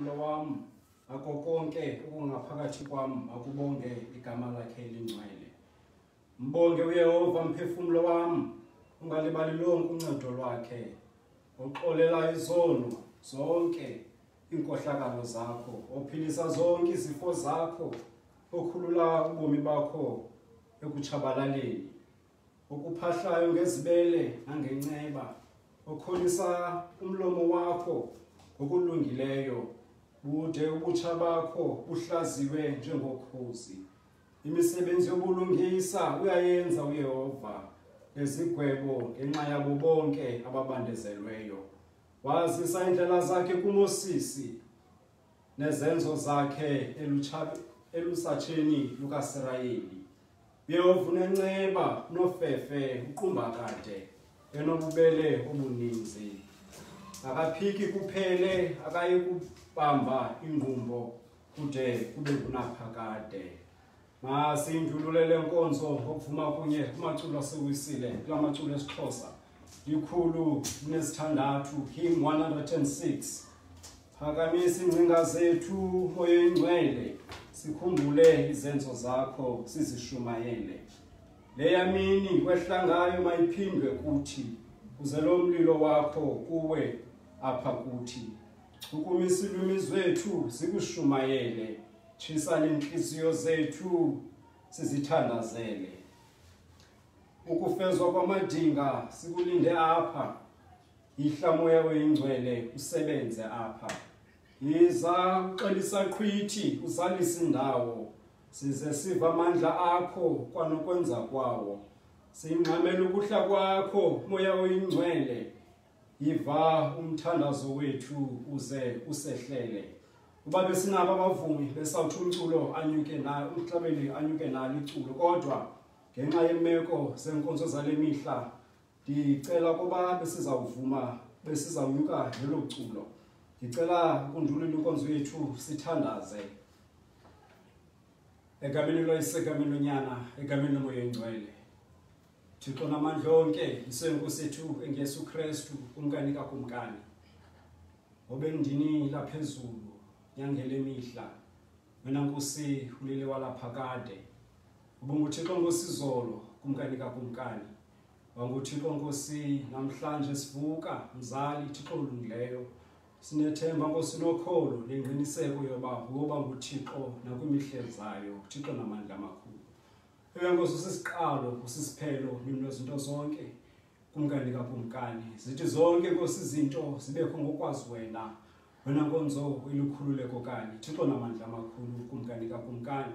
umlo wam ako konke okungaphakathi kwam akubonge igama lakhe elingcwele mbonge uyehova mphefumlo wam ungalibali lonke uncedo lwakhe oxolela izono zonke iinkohlakalo zakho ophilisa zonke izifo zakho okhulula ubomi bakho ekutshabalaleni okuphahlayo ngezibele nangenceba okholisa umlomo wakho ngokulungileyo bude ubutsha bakho buhlaziwe njengokhozi imisebenzi yobulungisa uyayenza uyehova ezigwebo ngenxa yabo bonke ababandezelweyo wazisa iindlela zakhe kumosisi nezenzo zakhe elusatsheni lukasirayeli Yehovunenceba nofefe uqumbakade enobubele obuninzi akaphiki kuphele akayi kubamba ingqumbo kude kube kunaphakade masindulule le nkonzo ngokuvuma kunye kumaculo asewisile kula maculo esixhosa ikhulu linesithandathu him 106 phakamisa iingcinga zethu moya oyingcwele sikhumbule izenzo zakho sizishumayele leya mini kwehla ngayo mayiphindwe kuthi kuze lo mlilo wakho kuwe apha kuthi chukumisa ilwimi zwethu sikushumayele tshisa neentliziyo zethu sizithandazele ukufezwa kwamadinga sikulinde apha yihla moya oyingcwele usebenze apha yiza uxelisa qhwithi uzalisa indawo size siva amandla akho kwanokwenza kwawo singxamela ukuhla kwakho moya oyingcwele yiva umthandazo wethu uze usehlele uba besinabo abavumi besawuthi umculo anyuke na umhlabeni anyuke nalo iculo kodwa ngenxa yeemeko zeenkonzo zale mihla ndicela ukuba besizawuvuma besizawunyuka ngelo culo ndicela ukundulula inkonzo yethu sithandaze egameni loyise egameni lonyana egameni lomoya engcwele thixo namandla onke yisenkosi ethu engeyesu kristu kumkani kakumkani obendini laphezulu nyangele mihla wena nkosi ulele walapha kade ubunguthixo nkosizolo kumkani kakumkani wanguthixo nkosi namhlanje sivuka mzali thixo olungileyo sinethemba nkosi nokholo nengqiniseko yoba ngoba nguthixo nakwimihle zayo thixo namandla amakhulu ewe nkosi usisiqalo usisiphelo nezinto zonke kumkani kakumkani zithi zonke nkosi izinto zibekho ngokwazi wena Wena nkonzo ilukhululeko kanye Thixo namandla amakhulu kumkani kakumkani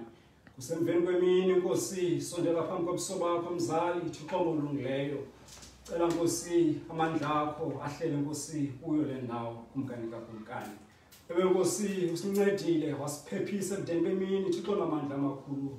kusemveni kwemini nkosi sondela phambi kobuso bakho mzali Thixo olungileyo cela nkosi amandla akho ahlele nkosi kuyo le ndawo kumkani kakumkani ewe nkosi usincedile wasiphephisa ebudeni bemini Thixo namandla amakhulu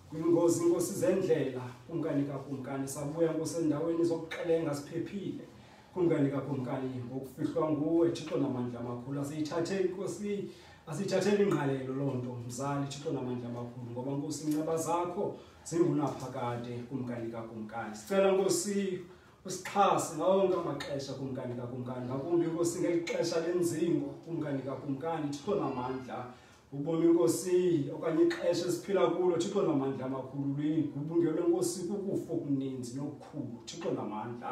kwingozi inkosi zendlela kumkani kakumkani sabuya nkosi endaweni zokuxelenga siphephile Kumkani kakumkani ngokufihlwa nguwe Thixo namandla amakhulu asiyithathe inkosi asiyithathele ingqalelo loo nto mzali Thixo namandla amakhulu ngoba nkosi inceba zakho zingunaphakade kumkani kakumkani sicela nkosi usixhase ngawo wonke amaxesha kumkani kakumkani ngakumbi nkosi ngeli xesha lenzingo kumkani kakumkani Thixo namandla ubomi nkosi okanye ixesha esiphila kulo Thixo namandla amakhulu luyigubungelwe nkosi kukufo okuninzi nokukhulu Thixo namandla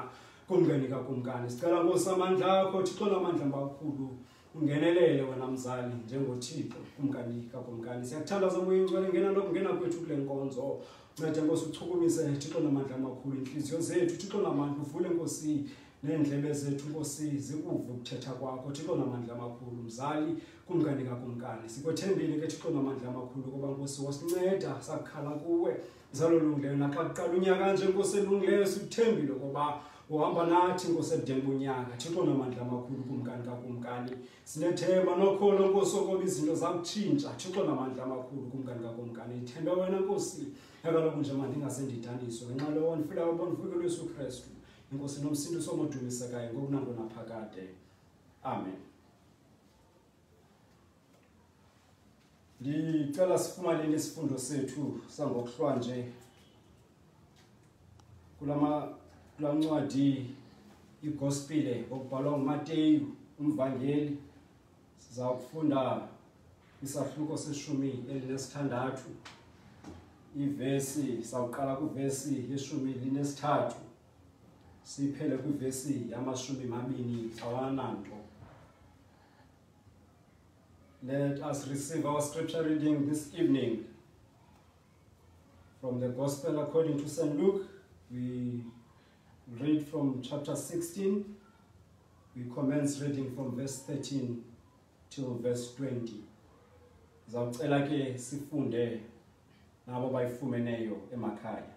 kumkani kakumkani sicela nkosi amandla akho thixo namandla makhulu ungenelele wena mzali njengothixo kumkani kakumkani siyakuthandaza moya ingcwele ngena lokungena kwethu kule nkonzo nceda nkosi uchukumise thixo namandla amakhulu iintliziyo zethu thixo namandla uvule nkosi neendlebe zethu nkosi zikuve ukuthetha kwakho thixo namandla amakhulu mzali kumkani kakumkani sikwethembile ke thixo namandla amakhulu kuba nkosi wasinceda sakukhala kuwe Nzalo olungileyo naxa kuqala unyaka nje nkosi elungileyo sikuthembile ukuba uhamba nathi nkosi ebudeni bonyaka thixo namandla amakhulu kumkani kakumkani sinethemba nokholo nkosi okoba izinto zakutshintsha thixo namandla amakhulu kumkani kakumkani ithembe wena nkosi ekaloku nje mandingase ndidaniswe ngenxa lowo ndifilayo uba ndifuke lwesu kristu inkosi nomsintu somodumisekayo ngokunangonaphakade amen ndicela sifumaneni isifundo sethu sangokuhlwanje kula ncwadi igospile okubhalwa ngumateyu umvangeli siza kufunda isahluko seshumi elinesithandathu ivesi sawuqala kwivesi yeshumi linesithathu siphele kwivesi yamashumi mabini awananto Let us receive our scripture reading this evening from the Gospel according to St. Luke. We read from chapter 16. We commence reading from verse 13 till verse 20. Zawucela ke sifunde nabo bayifumeneyo emakhaya.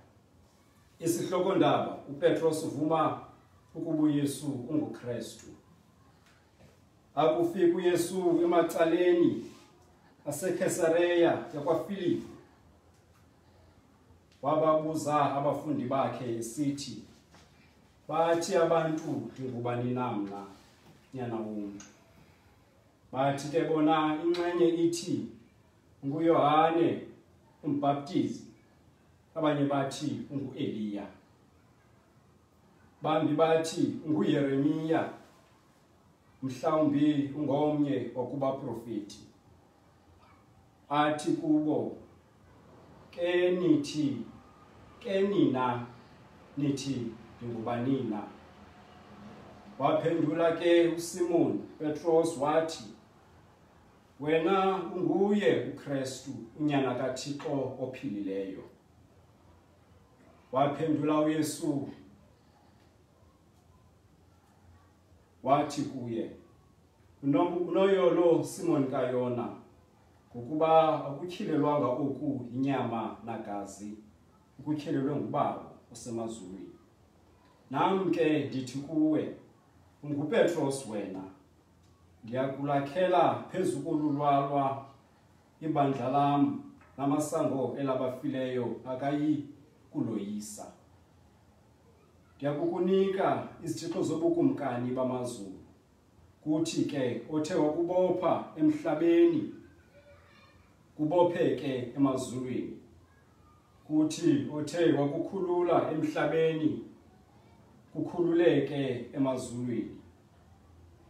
Isihloko ndaba uPetros uvuma ukuba uYesu unguKristu. Akufika uYesu emacaleni aseKesareya yakwaFilipi. Wababuza abafundi bakhe esithi, Bathi abantu ndingubani na mna, nyana womntu? Bathi ke bona inxenye ithi nguYohane umbhaptizi, abanye bathi unguEliya. bambi bathi nguYeremiya mhlawumbi ungomnye wakubaprofeti athi kubo ke nithi ke nina nithi ndingubanina waphendula ke uSimon Petros wathi wena unguye uKristu unyana kaThixo ophilileyo Waphendula uYesu wathi kuye unoyolo Simon kayona ngokuba akutyhilelwanga oku inyama nagazi ukutyhelelwe ngubawo usemazulwini nam ke ndithi kuwe ungupetros wena ndiyakulakhela phezu kolulwalwa ibandla lam namasango elabafileyo akayi kuloyisa ndiyakukunika izithixo zobukumkani bamazulu kuthi ke othe wakubopha emhlabeni kubopheke emazulwini kuthi othe wakukhulula emhlabeni kukhululeke emazulwini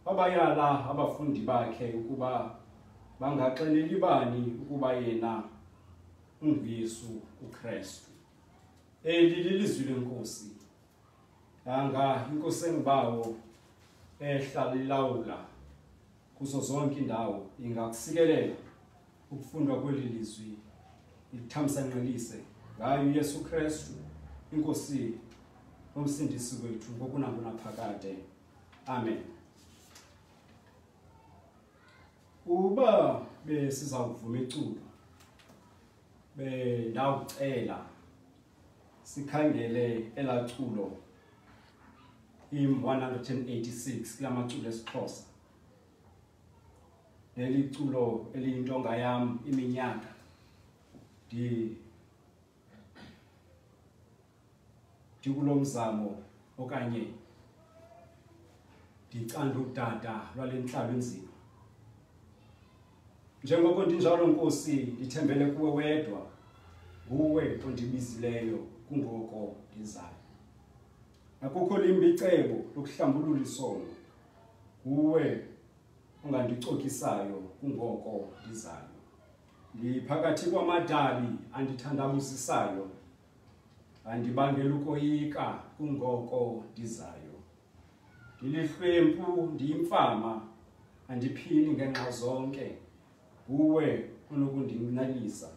Wabayala abafundi bakhe ukuba bangaxeleli bani ukuba yena unguYesu uKristu. Eli lilizwi lenkosi. Yanga inkosi engibawo ehlalilawula kuzo zonke indawo ingakusikelela ukufundwa kweli lizwi lithamsanqelise ngayo uyesu kristu inkosi nomsindisi wethu ngokunakunaphakade amen uba besiza kuvuma iculo bendawucela sikhangele elaa culo im 186 kula maculo esixhosa neliculo eliyintonga yam iminyaka ndi ndikulo mzamo okanye ndicanda udada lwale ntlalo enzima njengoko ndinjalo nkosi ndithembele kuwe wedwa nguwe ondibizileyo kungoko ndizayo akukho limbi icebo lokuhlambulula isono Nguwe ongandicokisayo kungoko ndizayo. Ndiphakathi kwamadabi andithandabuzisayo. Andibangela ukoyika kungoko ndizayo. Ndilihlwempu ndiyimfama andiphini ngenxa zonke. Nguwe onokundinalisa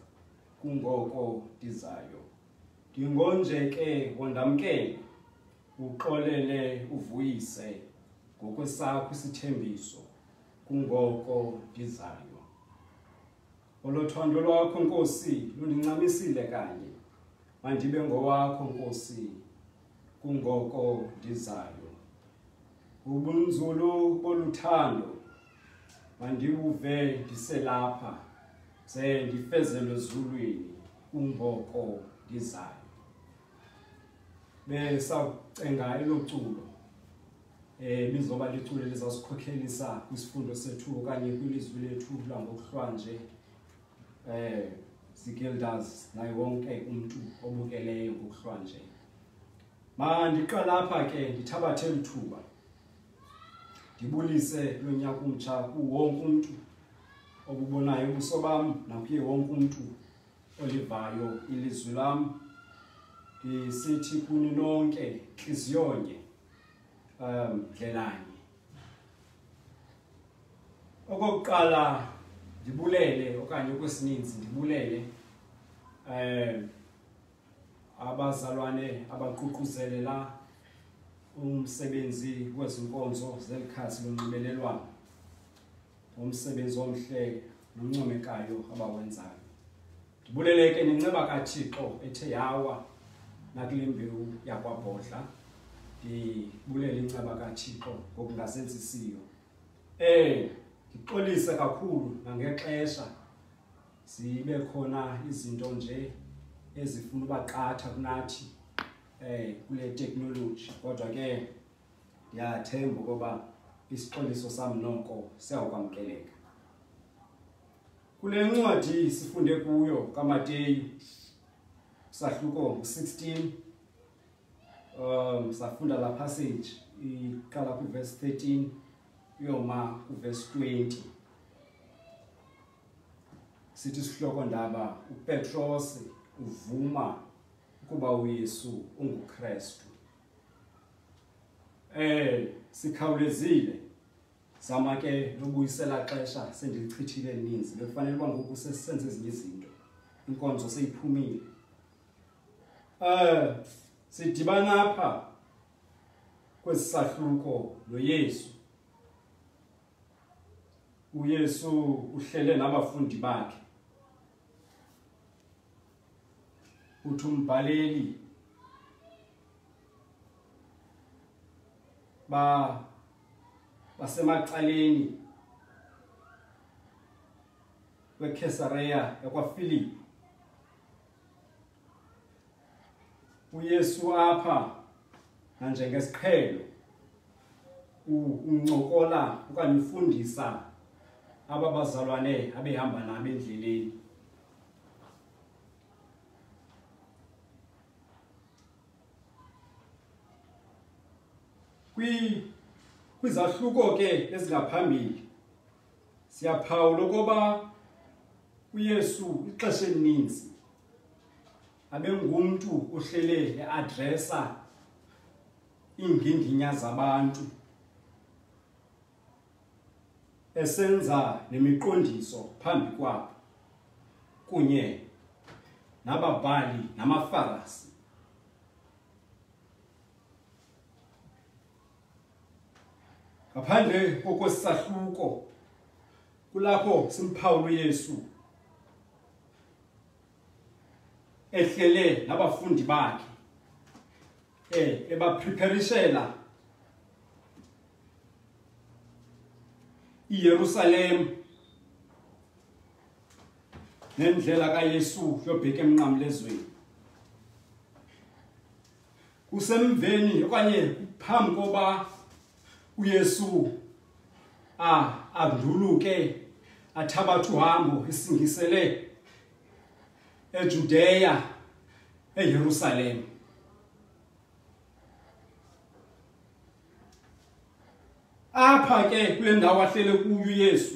kungoko ndizayo. ndingonje ke wondamkele uxolele uvuyise ngokwesakho isithembiso kungoko ndizayo olothando lwakho nkosi lundincamisile kanye mandibe ngowakho nkosi kungoko ndizayo ubunzulu boluthando mandiwuve ndiselapha ze ndifezelwe ezulwini kungoko ndizayo besawucenga elo culo um eh, lizoba liculo elizawusikhokhelisa kwisifundo sethu okanye kwilizwi lethu langokuhlwanje um eh, zigildas naye wonke umntu obukeleyo ngokuhlwanje mandiqalapha ke ndithabathe lithuba ndibulise kulo nyaka umtsha kuwonke umntu obubonayo ubuso bam nakuye wonke umntu olivayo ilizwi lam ndisithi kuni nonke ntliziyonye um ndlelanye okokuqala ndibulele okanye okwesininzi ndibulele um abazalwane abaququzelela umsebenzi kwezinkonzo zelikhasi lonxibelelwano umsebenzi omhle noncomekayo abawenzayo ndibuleleke nenceba kathixo ethe yawa nakule mbewu yakwabhodla ndibulele inceba kathixo ngokungazenzisiyo um ndixolise kakhulu nangexesha zibe khona izinto nje ezifuna uba qatha kunathi um kule teknoloji kodwa ke ndiyathemba ukuba isixoliso sam noko siyawukwamkeleka kule ncwadi sifunde kuyo kamateyu sahluko 16 um safunda la passage iqala kwiverse 13 uyoma kwiverse 20 sithi isihlokondaba upetrose uvuma ukuba uyesu ungukrestu eh sikhawulezile zama ke lobuyisela xesha sendilichithile ninzi bekufanele uba ngoku sesenze ezinye izinto inkonzo seyiphumile eh sidibana apha kwesahluko noyesu uyesu uhlele nabafundi bakhe uthi umbhaleli ba basemacaleni wekesareya yakwafilipi uYesu apha nanjengesiqhelo uncokola okanye ufundisa aba bazalwane abehamba nabo endleleni kwi kwizahluko ke ezingaphambili siyaphawula ukuba uyesu ixesha elininzi abengumntu uhlele eadresa iinginginya zabantu esenza nemiqondiso phambi kwabo kunye nababhali namafarasi ngaphandle kokwesahluko kulapho simphawulo Yesu ehlele nabafundi bakhe eh ebapreparishela iYerusalem nendlela kaYesu yobheka emnqamlezweni kusemveni okanye phambi koba uyesu a anduluke athabatha uhambo esingisele ejudeya eyerusalem apha ke kule ndawo ahlele kuyo uyesu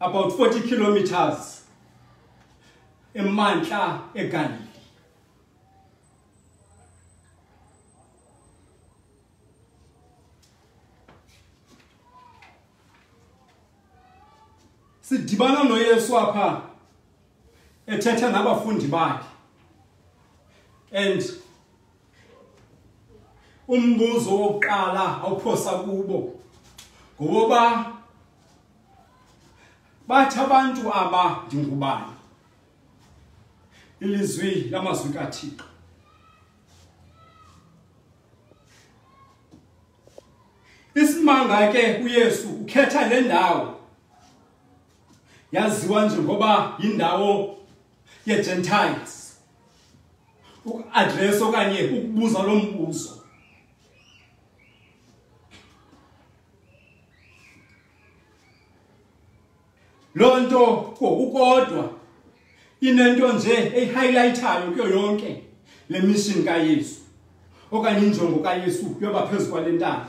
about 40 kilometers emantla eGalilee sidibana noYesu apha ethetha nabafundi bakhe and umbuzo wokuqala awuphosa kubo ngoba bathi abantu aba ndingubani ilizwi lamazwi kaThixo isimanga ke uYesu ukhetha le ndawo yaziwa njengoba yindawo ye-Gentiles ukuadresa okanye ukubuza lo mbuzo loo nto kokukodwa inento nje eyihighlayithayo kuyo yonke le mishini kayesu okanye injongo kayesu yoba phezu kwale ntaba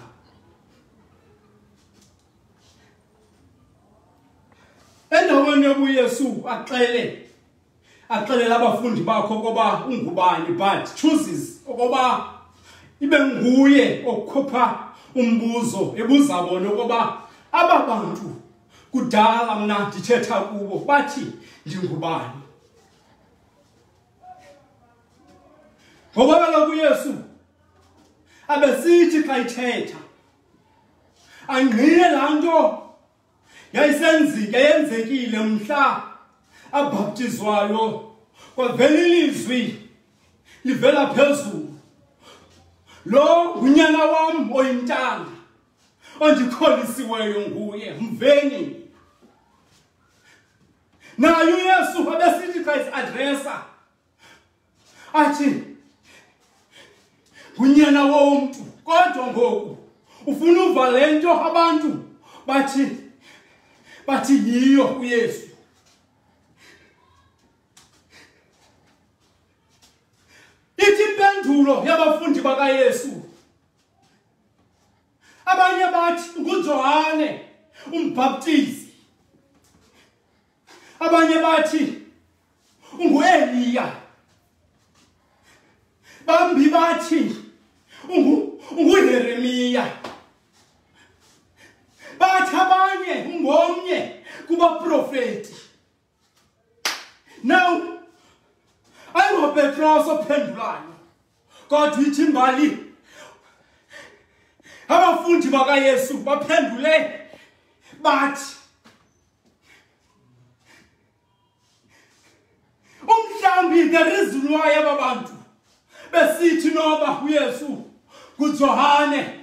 endaweni yobuyesu axele axelela abafundi bakho okoba ungubani but chooses okoba ibe nguye okhupha umbuzo ebuza bona okoba aba bantu kudala mna ndithetha kubo bathi ndingubani ngoba kaloku uyesu abesithi xa ithetha angqine laa nto yayisenzike yenzekile mhla abhaptizwayo kwavela ilizwi livela phezulu lo ngunyana wam oyintanga ondikholisiweyo nguye mveni naye uyesu abesithi xa isiadresa athi ngunyana womntu kodwa ngoku ufuna uva le nto abantu bathi bathi yiyo uyesu ithi impendulo yabafundi bakayesu abanye bathi ngujohane umbhaptizi abanye bathi ungueliya bambi bathi unguheremiya bathi abanye ungomnye kubaprofeti now ayingopetros ophendulayo kodwa ithi imbali abafundi bakayesu baphendule bathi umhlawumbi the reason why aba bantu besithi noba uyesu ngujohane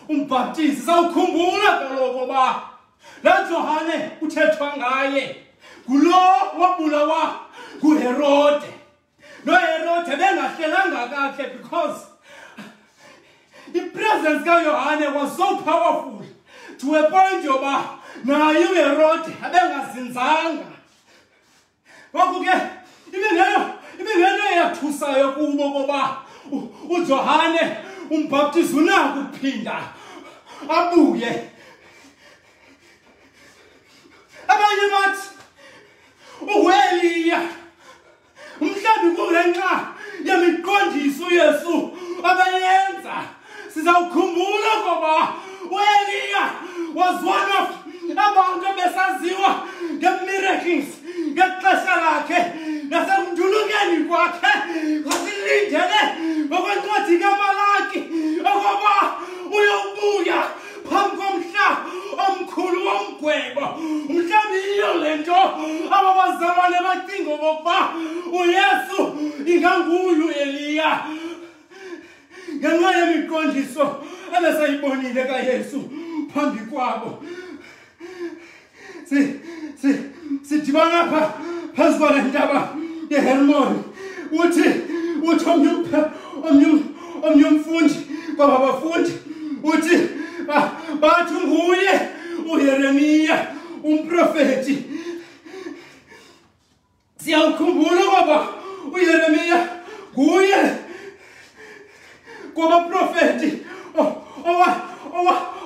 umbhaptizi sawukhumbula kaloku uba laa johane kuthethwa ngaye ngulo wabulawa nguherode noherode bengahlelanga kakhe because ipresence kayohane was so powerful to a point yoba naye uherode abengazinzanga ngoku ke ibingento eyathusayo kubo koba ujohane umbhaptizi unakuphinda abuye abanye bathi uweliya mhlawumbi kungenxa yemiqondiso uyesu abeyenza sizawukhumbula ngoba ueliya was one of abantu ebesaziwa ngemiracles ngexesha lakhe nasekundulukeni kwakhe wasilindele ngokwencwadi kamalaki okoba uyawubuya phambi komhla omkhulu womgwebo mhlawumbi yiyo le nto aba bazalwane bacinga okokuba uyesu inganguye ueliya ngenxa yemiqondiso ebesayibonile kayesu phambi kwabo sidibana pha phezu kwale ntaba yehermoni uthi uthi omnye omnye umfundi kwaba bafundi uthi bathi nguye uyeremiya umprofeti siyawukhumbula ngoba uyeremiya nguye kwabaprofeti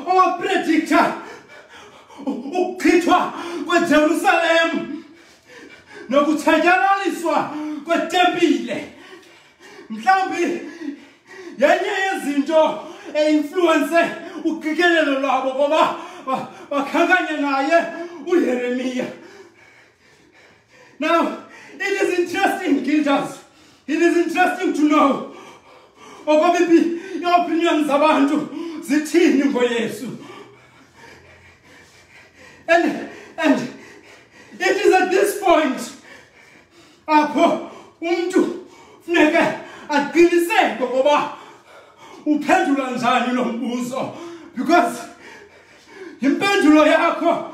owapredikta ukuchithwa kwejerusalem nokutshatyalaliswa kwetempile mhlawumbi yenye yezinto einfluwense uqikelelo lwabo ngoba bakhankanye naye uyeremiya Now, it is interesting, Gildas. It is interesting to know okobibi iopinion zabantu zithini ngoyesu and and it is at this point apho umntu funeke aqiniseke ngoba uphendula njani lo mbuzo because impendulo yakho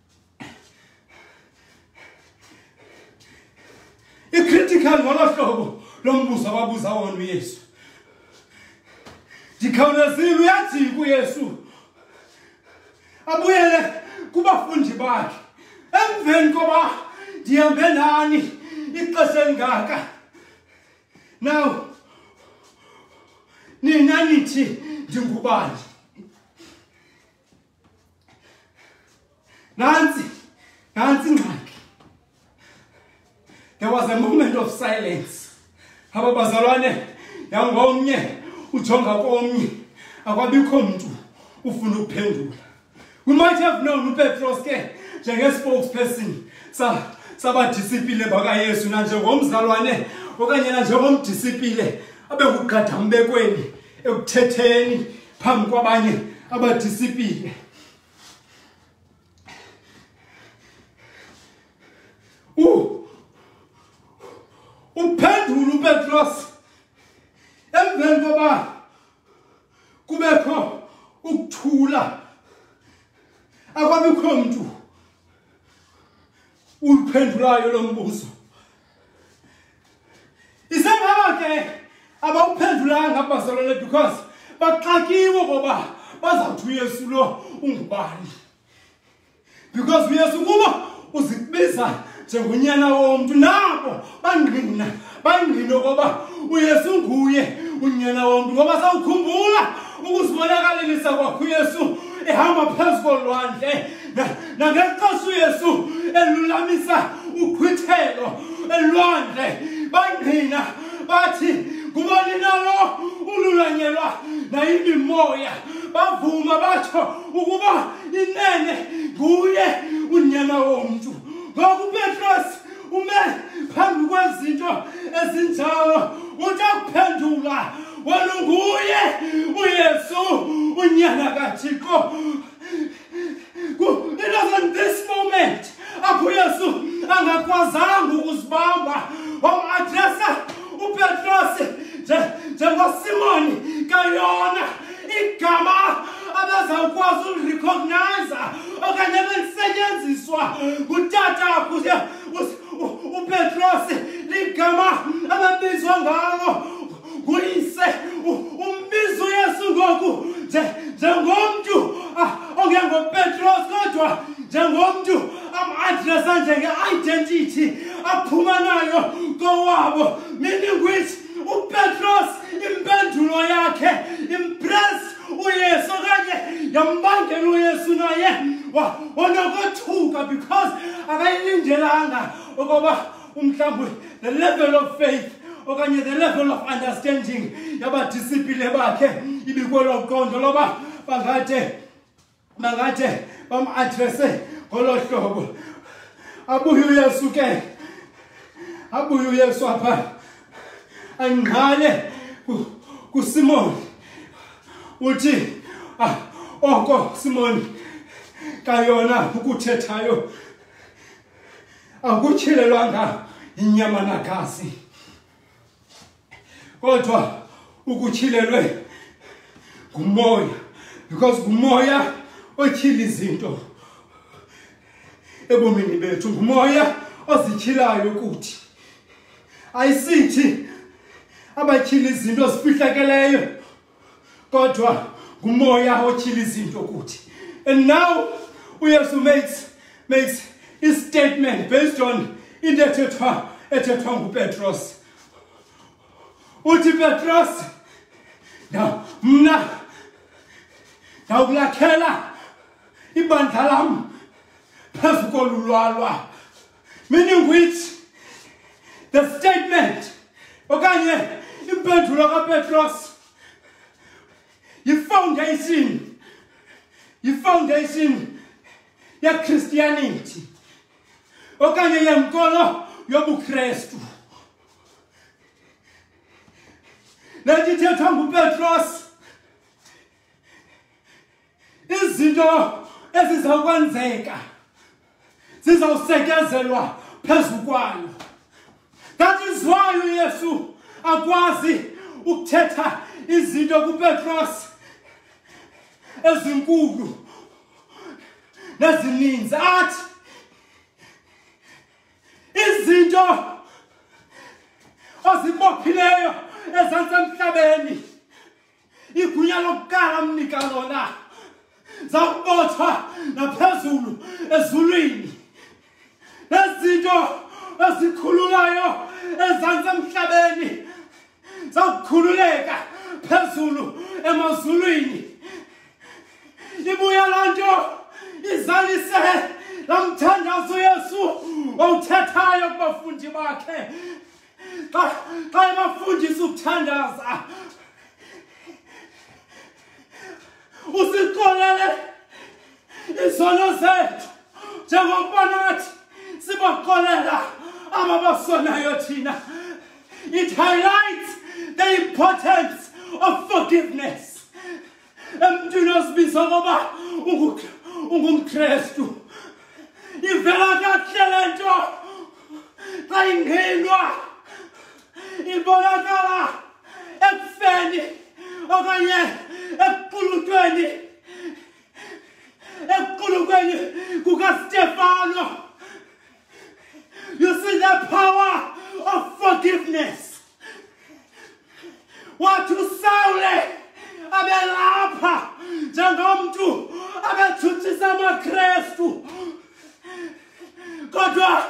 icritical ngolo hlobo lo mbuzo ababuza wona uyesu ndikhawulezile uyajika uyesu abuyele kubafundi bakhe emveni koba ndihambe nani ixesha elingaka now nina nithi ndingubani nantsi nantsi ingxaki there was a moment of silence aba bazalwane yangomnye ujonga komnye akwabikho mntu ufuna ukuphendula we might have known upetros ke njengespokesperson sabadisipile bakayesu nanjengomzalwane okanye nanjengomdisipile abe nguqadambekweni ekuthetheni phambi kwabanye abadisipile uphendula upetros emveni koba kubekho ukuthula akwabikho mntu uluphendulayo lo mbuzo isengaba ke abawuphendulanga abazalwane because baxakiwe ngoba bazawuthi uyesu lo ungubani because uyesu kuba uzibiza njengonyana womntu nabo bangqina bangqina okoba uyesu nguye unyana womntu ngoba sawukhumbula ukuzibonakalelisa kwakho uyesu ehamba phezu kolwandle nangexesha uyesu elulamisa uqhwithelo elwandle bangqina bathi ngubani nalo ululanyelwa nayimimoya bavuma batsho ukuba inene nguye unyana womntu ngoku upetros ume phambi kwezinto ezinjalo uthi akuphendula wena unguye uyesu unyana kathixo It was in this moment apho Yesu angakwazanga ukuzibamba wamadresa uPetrosi njengoSimoni kayona igama abezawukwazi ulirecognize okanye belisetyenziswa ngutata uPetrosi ligama ababizwa ngalo nguyise u- umbiza uyesu ngoku nje- njengomntu ah, ongengopetros kodwa njengomntu amadresa njenge-identity aphuma nayo kowabo meaning which upetros impendulo yakhe impress uyesu okanye yambangela uyesu naye wa- wanokothuka because akayilindelanga ukuba umhlawumbi the level of faith okanye the level of understanding yabadisipile bakhe ibikwelo qondo loba bangathe bangathe bam-adrese ngolo hlobo abuye uyesu ke abuye uyesu apha angqale kusimoni uthi ah, oko simoni kayona ukuthethayo akutyhelelwanga inyama nagazi kodwa ukutyhilelwe ngumoya because ngumoya otyhila izinto ebomini bethu ngumoya ozityhilayo kuthi ayisithi abatyhila izinto zifihlakeleyo kodwa ngumoya otyhila izinto kuthi and now uyesu makes makes istatement based on into ethethwa ethethwa ngupetros uthi petros na mna ndawukulakhela ibandla lam phezu kolulwalwa meaning which the statement okanye impendulo kapetros yifoundation yifoundation yechristianity okanye yenkolo yobukrestu le nto ithethwa ngupetros izinto ezizawukwenzeka zizawusekezelwa phezu kwayo that is why uyesu akwazi ukuthetha izinto kupetros ezinkulu nezininzi athi izinto ozibophileyo ezantsi emhlabeni igunya lokuqala amnika lona zakubotshwa naphezulu ezulwini nezinto ezikhululayo ezantsi emhlabeni zakukhululeka phezulu emazulwini ibuya laa nto izalise laa mthandazo yesu owuthethayo kubafundi bakhe xa xa ebafundisa ukuthandaza usixolele izono zethu njengokuba nathi sibaxolela aba basonayo thina it highlights the importance of forgiveness emntwini ozibiza ngoba ungumkrestu ivela kahle le nto xa ingenwa ibonakala ekufeni okanye ekuqulutweni ekuqulukweni kukastefano You see the power of forgiveness. What you say, abelapha njengomntu abethutshisa amakrestu kodwa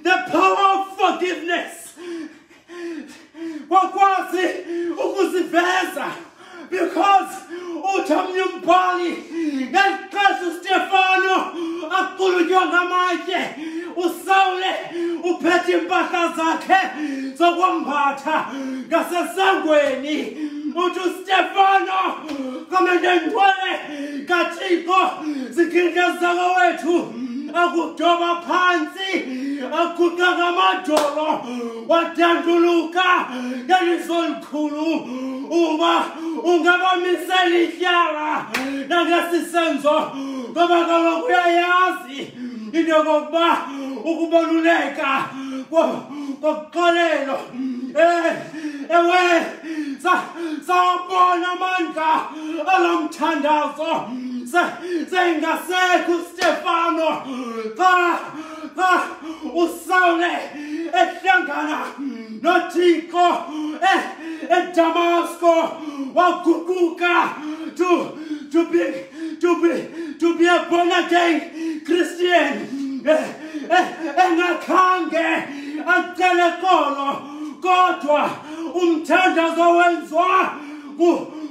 the power of forgiveness wakwazi ukuziveza because uthi omnye umbhali ngeli xesha ustefano aqulutywa ngamatye usawule uphethe iimpahla zakhe zokwambatha ngasesangweni uthi ustefano kamendenjwele kathixo zikhinkeza kowethu akudoba phantsi aguqa ngamadolo wadanduluka ngeliso likhulu uba ungabamisela ityala nangesisenzo ngoba kaloku uyayazi into yokokuba ukubaluleka kokuxolelo um ewe sawabona amandla alomthandazo seyingasekho ustefano xa xa usawule ehlangana nothixo eh, edamasko waguquka to to be to be to be a born again christian eh, eh, engakhange acele kolo kodwa umthandazo wenziwa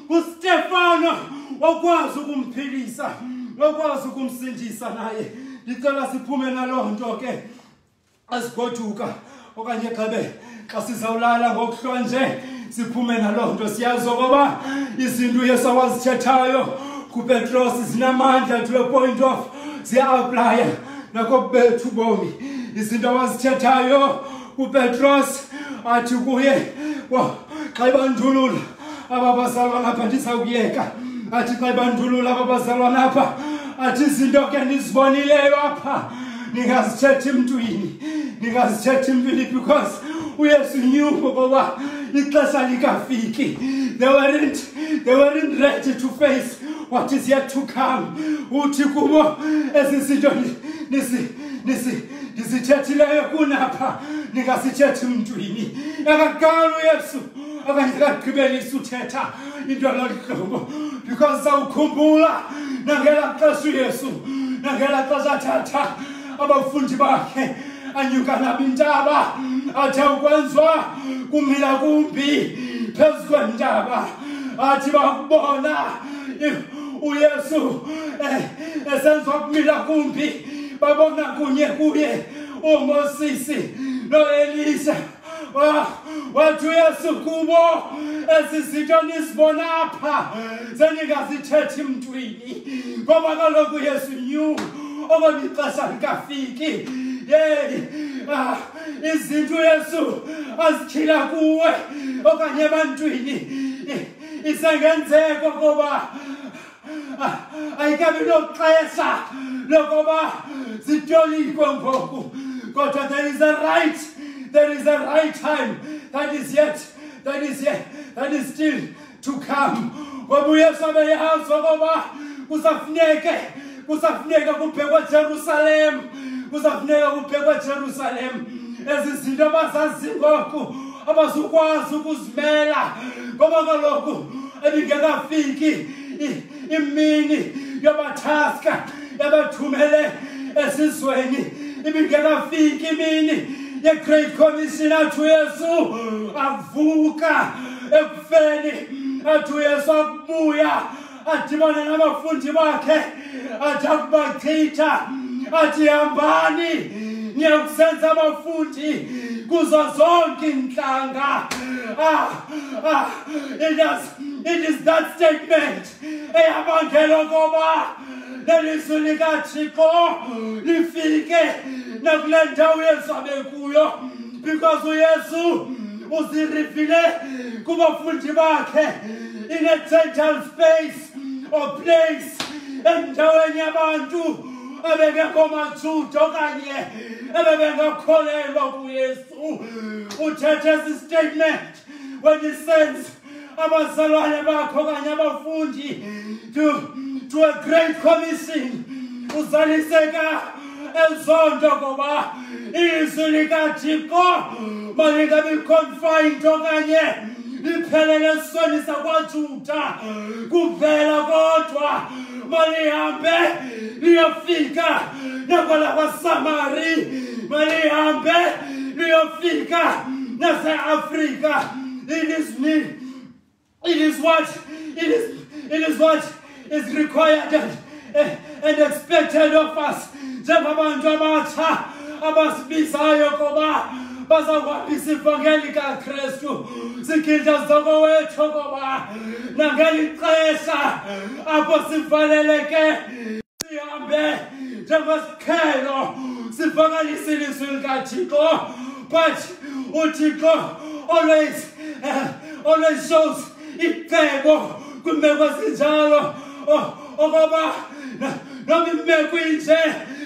kustefano wakwazi ukumphilisa wakwazi ukumsindisa naye ndicela siphume naloo nto ke azigoduka okanye gxebe xa sizawulala ngokuhlwa nje siphume naloo nto siyazi okoba izinto uyesu awazithethayo kupetros zinamandla to a point of ziya-aplaya nakobethu bomi izinto awazithethayo upetros athi kuye xa ibandulula aba bazalwana apha ndizawuyeka athi xa ibandulula aba bazalwana apha athi izinto ke ndizibonileyo apha ndingazithethi mntwini ndingazithethi mntwini because uyesu knew ngoba ixesha likafiki they weren't, they weren't ready to face what is yet to come uthi kubo ezi zinto nisi nisi ndizithethileyo kunapha ndingasithethi mntwini akaqala uyesu okanye akagqibelisa uthetha into lolu hlobo because sawukhumbula nangela xesha uyesu nangela xesha athatha abafundi bakhe anyuka nabo intaba athe ukwenziwa kumila kumbi phezu kwentaba athi bakubona uyesu eh, esenziwa kumila kumbi babona kunye kuye umosisi noelisa Ah, wathi uyesu kubo ezi zinto nizibona apha sendingazithethi mntwini ngoba kaloku yesu new okona ixesha likafiki yeyi ah, izinto uyesu azityhila kuwe okanye ebantwini isengenzeko ngoba ayikabi noxesha lokuba zityolikwe ngoku kodwa there is a right there is a right time that is yet that is yet that is still to come ngoba uyesu abeyazi okoba kusafuneke kusafuneka kubhekwa jerusalem kusafuneka kubhekwa jerusalem ezi zinto abazazi ngoku abazukwazi ukuzimela ngoba kaloku ebingekafiki imini yabathaska yabathumele esizweni ibingekafiki imini ye-great commission athi uyesu avuka ekufeni athi uyesu akubuya adibane nabafundi bakhe athi akubachitha athi hambani niyakusenza abafundi kuzo zonke iintlanga ah, ah, it is, it is that statement eyabangela okoba lelizwi likathixo lifike nakule ndawo yezwabe kuyo because uyesu uzirivile kubafundi bakhe in a total space or place endaweni yabantu ebengekho majuda okanye ebebengakholelwa kuyesu uthethe esi statement when he sends abazalwane bakho okanye abafundi to, to a great commission uzaliseka ezonto ngoba izwi likathixo malingabi confined okanye liphelele esweni sakwajuda kuvela kodwa malihambe liyofika nakwalakwasamari malihambe liyofika naseafrika It is me. It is what? It is, it is what is required and, and expected of us. njengabantu abatsha abasibizayo koba bazakuhambisa ivangeli likaKristu sigidla zoko wethu koba nangeli xesha apho sivaleleke sihambe njengesikhelo sivakalise ilizwi likathixo But uthi God always uh, always shows ifebo kwimeko ezinjalo oh, okoba noma imeko inje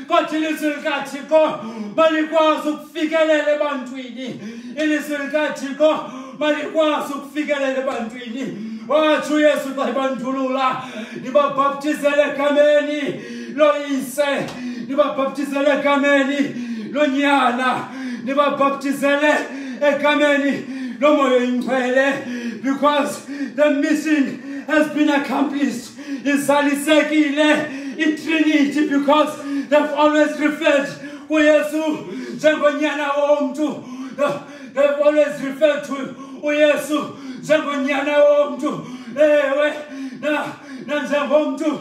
kodwa ilizwi likathixo malikwazi ukufikelela ebantwini ilizwi likathixo malikwazi ukufikelela ebantwini watsho uyesu xa ibandulula ndibabhaptizele egameni loyise nibabhaptizele egameni lonyana nibabhaptizele egameni lomoya oyingcwele because the mission has been accomplished izalisekile itrinity because they've always referred kuyesu njengonyana womntu they've always referred to uyesu njengonyana womntu ewe nanjengomntu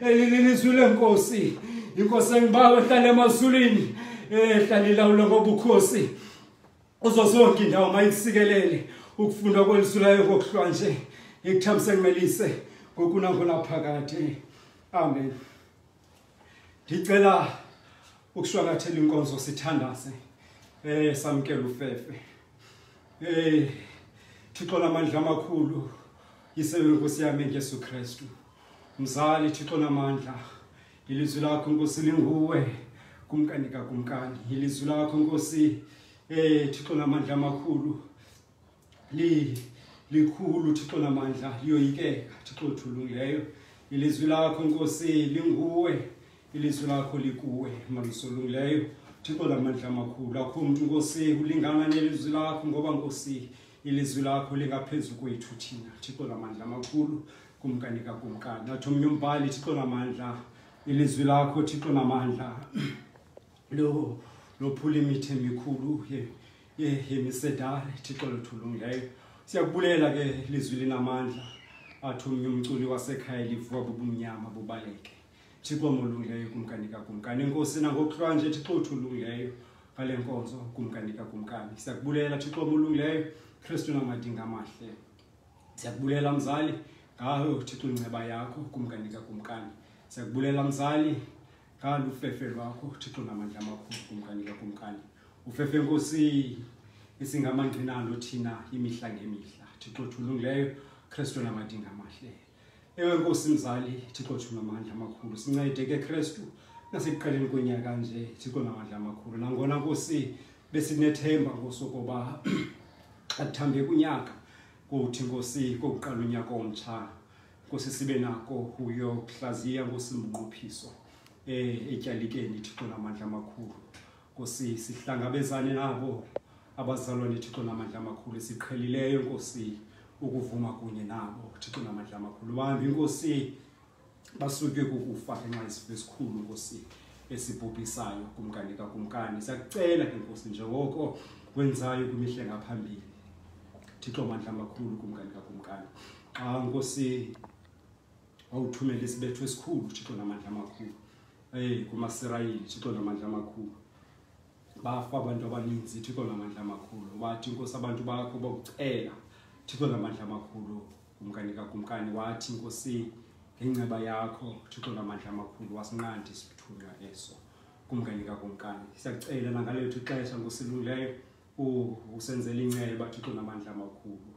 elililizwi lenkosi inkosi engibawe ehlala emazulwini ehlala ilawula ngobukhosi uzo zonke indawo mayikusikelele ukufunda kwelizwi layo kokuhlwa nje ikuthambise ngimelise ngokunakunaphakade amen ndicela ukushwangathela inkonzo sithandaze eh samkela ufefe eh thixo lamandla amakhulu yisebenkosi yami ngesu kristu mzali thixo namandla ilizwi lakho nkosi linguwe kumkani kakumkani ilizwi lakho nkosi eh thixo namandla amakhulu li likhulu thixo namandla liyoyikeka thixo thulungileyo ilizwi lakho nkosi linguwe ilizwi lakho likuwe malisolungileyo thixo namandla amakhulu akho mntu nkosi ulingana nelizwi lakho ngoba nkosi ilizwi lakho lingaphezu kwethu thina thixo namandla amakhulu kumka ndikakumka ndathi omnye umbhali thixo namandla ilizwi lakho thixo namandla lo lophula imithi emikhulu ye ye yemisedare thixo lothulungileyo siyakubulela ke lizwi linamandla athi omnye umculi wasekhaya livuka bubumnyama bubaleke thixo molungileyo kumkani kakumkani enkosi nangokuhlwa nje thixo uthulungileyo ngale nkonzo kumkani kakumkani siyakubulela thixo molungileyo kristu namadinga amahle Siyakubulela mzali ngawe uthixo inceba yakho kumkani kakumkani. Siyakubulela mzali ngalu fefe lwakho uthixo namandla amakhulu kumkani kakumkani. Ufefe nkosi isingamangqinalo thina imihla ngemihla. Thixo thulungileyo Kristu namadinga amahle. Ewe Nkosi mzali, Thixo Thixo namandla amakhulu. Sincede ke Kristu nasekuqaleni konyaka nje, Thixo namandla amakhulu. Nangona Nkosi besinethemba Nkosi ukuba athambe kunyaka kuthi Nkosi kokuqala unyaka omtsha. Nkosi sibe nako uyokuhlaziya Nkosi mnqophiso eh etyalikeni Thixo namandla amakhulu. Nkosi, sihlangabezane nabo abazalwane Thixo namandla amakhulu siqhelileyo Nkosi ukuvuma kunye nabo Thixo namandla amakhulu. Bambi Nkosi basutywe kukufa ngenxa yesifo esikhulu Nkosi esibhubhisayo kumkani kakumkani. Siyakucela ke Nkosi njengoko wenzayo kwimihle ngaphambili. Thixo mandla amakhulu kumkani kakumkani. Xa Nkosi wawuthumela isibetho esikhulu uthixo namandla amakhulu ey kumasirayeli uthixo namandla amakhulu bafa abantu abaninzi uthixo namandla amakhulu wathi inkosi abantu bakho bakucela uthixo namandla amakhulu kumkani kakumkani wathi inkosi ngenceba yakho uthixo namandla amakhulu wasinqandi isithunywa eso kumkani kakumkani siyakucela nangalethu ixesha nkosilungileyo usenzela inceba thixo namandla amakhulu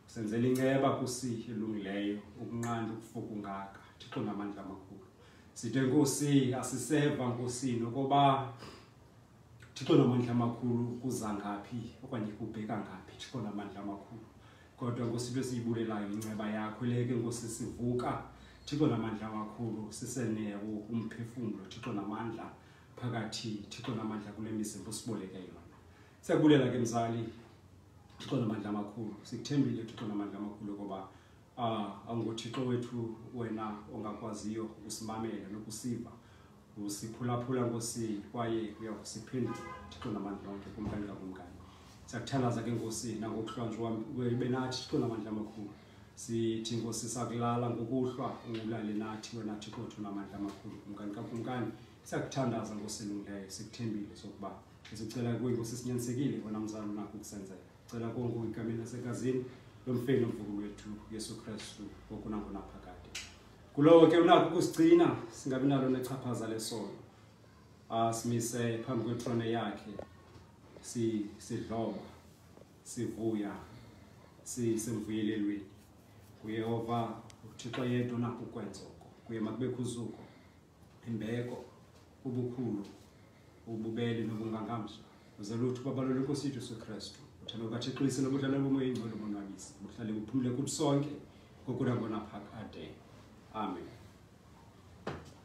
usenzela inceba kusi elungileyo ukunqanda ukufuka ungaka thixo namandla amakhulu sithe nkosi asiseva nkosini okoba thixo namandla amakhulu kuza ngaphi okanye kubheka ngaphi thixo namandla amakhulu kodwa nkosi into esiyibulelayo inceba yakho leke nkosi sivuka thixo namandla amakhulu sisenewo umphefumlo thixo namandla phakathi thixo namandla kule mizimba usiboleke yona siyakubulela ke mzali thixo namandla amakhulu sikuthembile thixo namandla amakhulu koba uh, ah, awunguthixo wethu wena ongakwaziyo ukusimamela nokusiva usiphulaphula nkosi kwaye uyakusiphendula thixo namandla onke kumkani kakumkani siyakuthalaza ke nkosi nangokuhlwanjwa ibe nathi thixo namandla amakhulu sithi nkosi sakulala ngokuhlwa ulale nathi wena thixo othu namandla amakhulu kumkani kakumkani siyakuthandaza nkosi elungileyo sikuthembile sokuba sicela kuye nkosi sinyanisekile wena mzali unakho ukusenzela cela konke ikameni lasekazini lomfeni omvuku wethu yesu kristu ngoku nangonaphakade kulowo ke unakho ukusigcina singabi nalo nechaphaza lesono asimise phambi kwetrone yakhe sidloba si sivuya sisemvuyelelweni kuyehova uthixo yedwa nakho ukwenza oko kuye makubekho uzuko imbeko ubukhulu ububele nobungangamsha uze lutho babalole inkosi yethu yesu kristu uthando lukathixo lisele ubudlala bomoya ingcwele obonwabisa buhlale buphumule kuthi sonke kokunakonaphakade amen